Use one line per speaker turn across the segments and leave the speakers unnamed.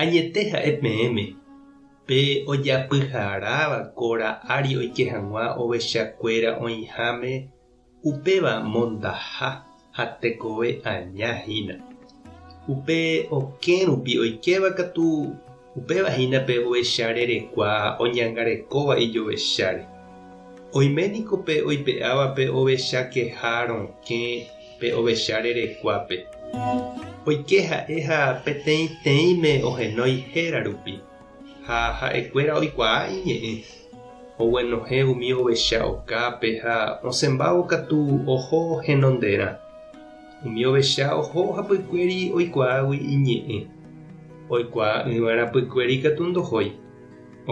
Añete ha'e peẽme, pe ojapyharáva kóra ári oike hag̃ua ovechakuéra oĩháme, upéva mondaha ha tekove aña hína. Upe okẽ rupi oikéva katu, upéva hína pe ovecha rerekua oñangarekóva ijovecháre. Oime niko pe oipe'áva pe ovechakeha rokẽ, pe ovecha rerekuápe. Oike ha'e ha peteĩteĩme ohenói héra rupi, ha ha'ekuéra oikuaa iñe'ẽ. Oguenohẽ umi ovecha okápe ha osẽmbávo katu oho henonderã. Umi ovecha oho hapykuéri oikuaágui iñe'ẽ. Oikuaa'ỹva rapykuéri katu ndohói.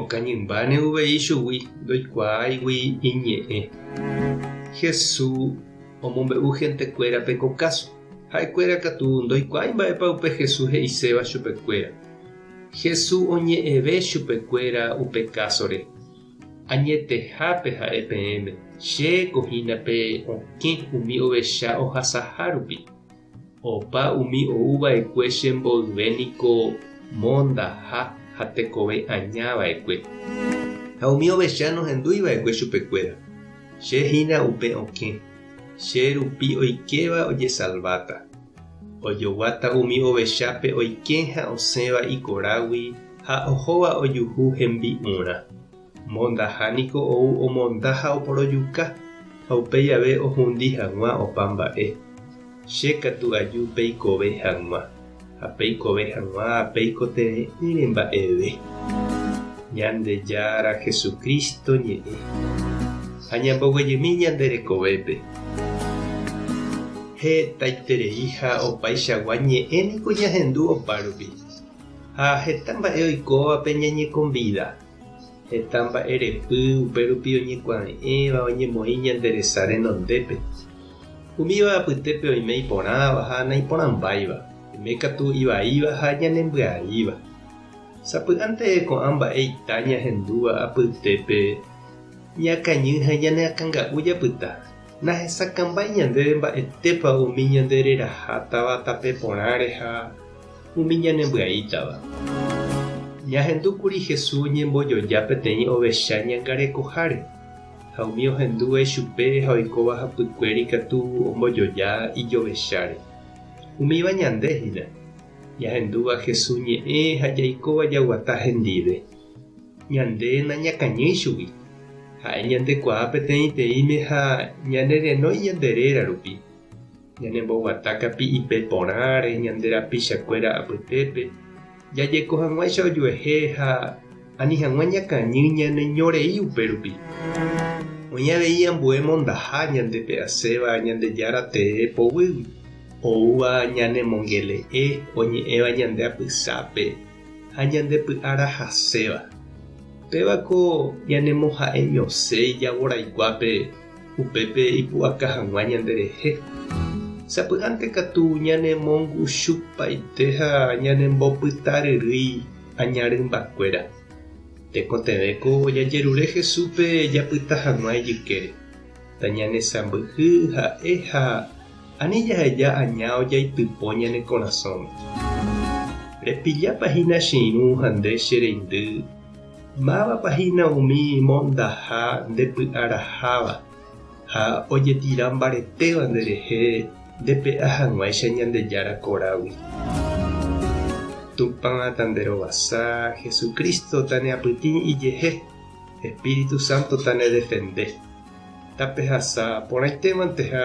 Okañymbáne uvei ichugui, ndoikuaáigui iñe'ẽ. Hesu omombe'u hentekuérape ko káso. Ha'ekuéra katu ndoikuaái mba'épa upe Hesu he'iséva chupekuéra. Hesu oñe'ẽve chupekuéra upe kásore, Añetehápe ha'e peẽme, che ko hína pe okẽ umi ovecha ohasaha rupi. Opa umi ou va'ekue che mboyve niko mondaha ha tekove aña va'ekue. Ha umi ovecha nohendúi va'ekue chupekuéra. Che hína upe okẽ, che rupi oikéva ojesalváta. Ojoguáta umi ovechápe oike ha osẽva ikorágui ha ohóva ojuhu hembi'urã. Mondaha niko ou omonda ha oporojuka, ha upéi jave ohundi hag̃ua opa mba'e. Che katu aju peikove hag̃ua, ha peikove hag̃ua peikotevẽ'ỹre mba'eve Ñandejára Jesucristo ñe'ẽ, ha ñamboguejymi ñande rekovépe. Hetaiterei ha opaichagua ñe'ẽ niko ñahendu opárupi, ha heta mba'e oikóvape ñañekonvida. Heta mba'erepy upérupi oñekuave'ẽva oñemoĩ ñande resa renondépe. Umíva apytépe oime iporãva ha naiporãmbáiva, oime katu ivaíva ha ñanembyaíva. Sapy'ánte ko'ã mba'e ita ñahendúva apytépe ñakañy ha ñaneakãnga'u japyta, nahesakãmbái ñandéve mba'etépa umi ñande reraha táva tape porãre ha umi ñanembyai'tava. Ñahendu kuri Hesu oñembojoja peteĩ ovecha ñangarekoháre, ha umi ohendu vai chupe ha oikóva hapykuéra ikatu ombojoja ijovecháre. Umíva ñande hína, ñahendúva Hesu ñe'ẽ ha jaikóva jaguata hendive. Ñande nañakañýi chugui. Ha'e ñandekuaa peteĩteĩme ha ñanerenói ñande réra rupi. Ñanemboguata kapi'ipe porãre ñande rapichakuéra apytépe, jajeko hag̃uáicha ojuehe ha ani hag̃ua ñakañy ñaneño rei upérupi. Oĩ avei ambue mondaha ñande pe asẽva Ñandejára tee poguýgui, oúva ñanemongele'e oñe'ẽva ñande apysápe ha ñande py'ara haséva. Péva ko ñanemoha'eñosẽi jagoraikuápe. Upépe ipu'aka hag̃ua ñanderehe. Sapy'ánte katu ñanemongusupaite ha ñanembopytaryrýi aña rymbakuéra. Tekotevẽko jajerure Jesúspe japyta hag̃ua ijykére. Tañanesãmbyhy ha'e ha ani jaheja aña ojaitypo ñane korasõme. Repillápa hína che irũ ha nde che reindy. Mávapa hína umi mondaha ndepy'araháva ha ojetira mbaretéva nderehe ndepe'a hag̃uáicha Ñandejára korágui? Tupã tanderovasa, Jesucristo taneapytĩ ijehe, Espíritu Santo tanedefende. Tapehasa porãitémanteha